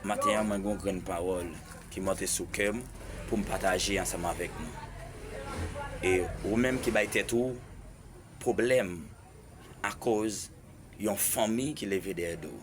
Maten an mwen gen yon grenn pawòl ki monte sou kè m pou m pataje ansanm avèk nou. E ou menm ki bay tèt ou pwoblèm akoz yon fanmi ki leve dèyè do w.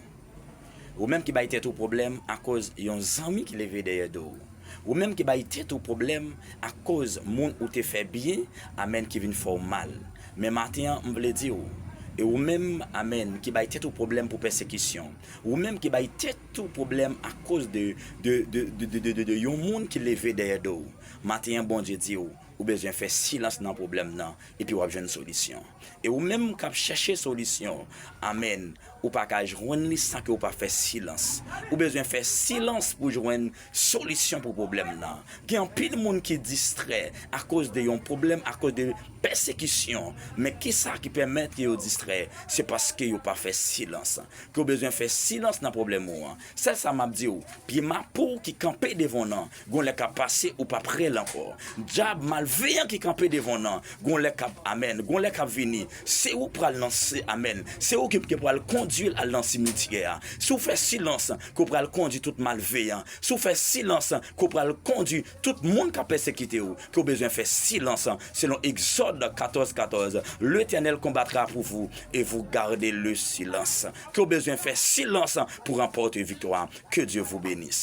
Ou menm ki bay tèt ou pwoblèm akoz yon zanmi ki leve dèyè do w. Ou menm ki bay tèt ou pwoblèm akoz moun ou te fè byen, amèn, ki vin fè w mal. Men maten an, m vle di ou, E ou menm, amèn, ki bay tèt ou pwoblèm pou pèsekisyon, ou menm ki bay tèt ou pwoblèm akoz de, de, de, de, de, de, de, de yon moun ki leve dèyè do w, maten an Bondye di ou, ou bezwen fè silans nan pwoblèm nan, epi w ap jwenn solisyon. E ou menm k ap chèche solisyon, amèn, ou pa ka jwenn li san ke ou pa fè silans. Ou bezwen fè silans pou jwenn Solisyon pou pwoblèm nan. Gen anpil moun ki distrè akoz de yon pwoblèm, akoz de pèsekisyon. Men kisa ki pèmèt ke yo distrè? Se paske yo pa fè silans. Ke w bezwen fè silans nan pwoblèm ou an. Sèl sa map di w, pye mapou ki kanpe devan w nan, gon lè kap pase ou pap rèl ankò. Dyab malveyan ki kanpe devan w nan, gon lè kap, amèn, gon lè kap vini. Se ou pral nan, amèn, se ou ki pral kondwi l al nan simityè a. Si w fè silans, ke w pral kondi tout malveyan, si w fè silans, ke w pral kondi tout moun k ap pèsekite w, ke w bezwen fè silans, selon Exode 14, 14, L'Etènèl konbatra pou vou, e vou garde le silans, ke w bezwen fè silans pou ranpòte viktwa, ke Dye vou benis.